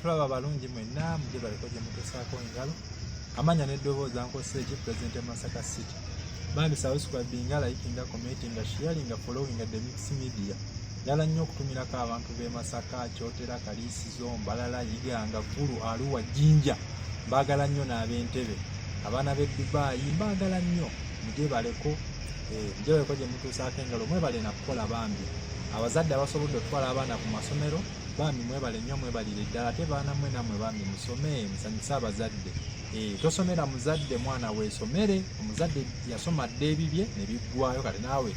tulaba balungi mwenna muje baliko gye mutusaako engalo amanya n'eddoboozi ankozesa eki president e masaka city bambi subscribinga likinga commentinga sharinga followinga the mix media ddala nnyo okutumirako abantu b'e masaka kyotera kaliisizo mbalala yiganga ggulu aluwa jjinja mbaagala nnyo n'ab'entebe abaana b'e dubaayi mbaagala nnyo mujebaleko eh, mujebaleko gye mutuusaako engalo mwebale nakukola bambi abazadde abasobodde okutwala abaana ku masomero bambi mwebale nnyo mwebalire ddala ate baana mwe namwe bambi musome musanyuse abazadde eh, tosomera muzadde mwana weesomere omuzadde yasoma dda ebibye ne biggwayo kati naawe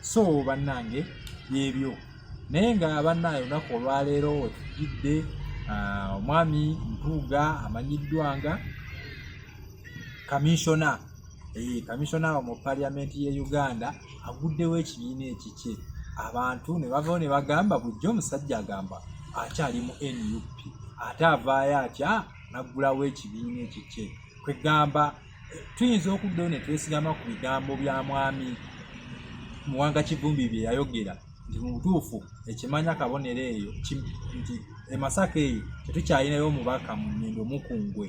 so bannange byebyo naye nga bannange olunaku olwaleero wetugidde ah, omwami mpuuga amanyiddwanga kaminsona eh, kaminsona mu paliyamenti ye uganda aguddewo ekibiina ekikye abantu ne bavawo ne bagamba bujja omusajja agamba akyali mu nup ate avaayo atya naggulawo ekibiina ekikye kwegamba tuyinza okuddayo ne twesigama ku bigambo bya mwami muwanga kivumbi bye yayogera nti mu butuufu ekimanya kabonero eyo nti emasaka eyo tetukyalinayo omubaka mu nyindo mukungwe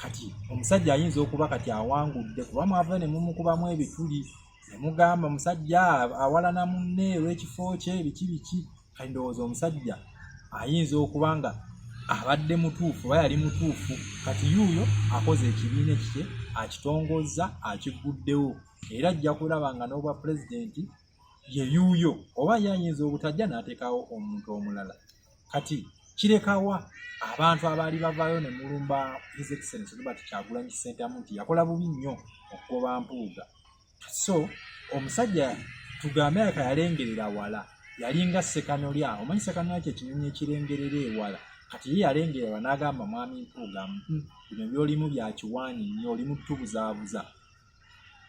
kati omusajja ayinza okuba kati awangudde kuba mwava ne mumukubamu ebituli ne mugamba musajja awalana munne olw'ekifo kye biki biki kati ndowooza omusajja ayinza okuba nga abadde mutuufu oba yali mutuufu kati yuuyo akoze ekibiina ekikye akitongozza akigguddewo era ajja kulaba nga n'obwa pulezidenti ye yuuyo oba ye ayinza obutajja n'ateekawo omuntu omulala kati kirekawa abantu abaali bavaayo ne mulumba his excellence robert kyagulanyi ssentamu nti yakola bubi nnyo okugoba mpuuga so omusajja tugambe yaka yalengerera wala yalinga sekanolya omanyi sekanolya kyekinyonyi ekirengerera ewala kati ye yalengererwa n'agamba mwami mpuuga hmm, bino byolimu byakiwaanyi nnyo oli mutubuzaabuza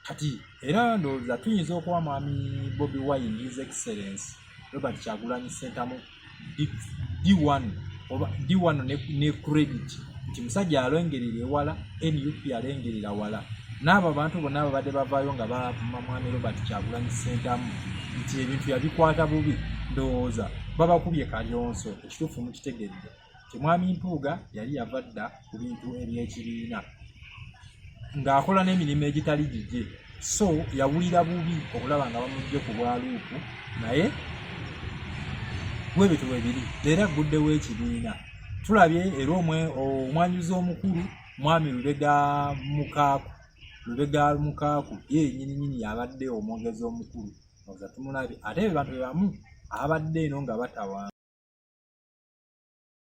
kati era ndowooza tuyinza okuwa mwami bobi wine his excellence robert kyagulanyi sentamu d1 oba d1 ne credit nti musajja alengerera ewala nup alengerera wala n'abo abantu bonna ababadde bavaayo nga bavuma mwami robert kyagulanyi sentamu nti ebintu yabikwata bubi ndowooza babakubye kalyonso ekituufu mukitegedde nti mwami mpuuga yali yava dda ku bintu ebyekibiina ng'akola n'emirimu egitali gigye so yawulira bubi okulaba nga bamujje ku bwaluupu naye bwebityo bwebiri leero agguddewo ekibiina tulabye era omwanyuzi omukulu mwami lubega mukaaku lubega mukaaku ye nyininyini yabadde omwogezi omukulu oza tumulabye ate bebantu bebamu abadde eno nga batawa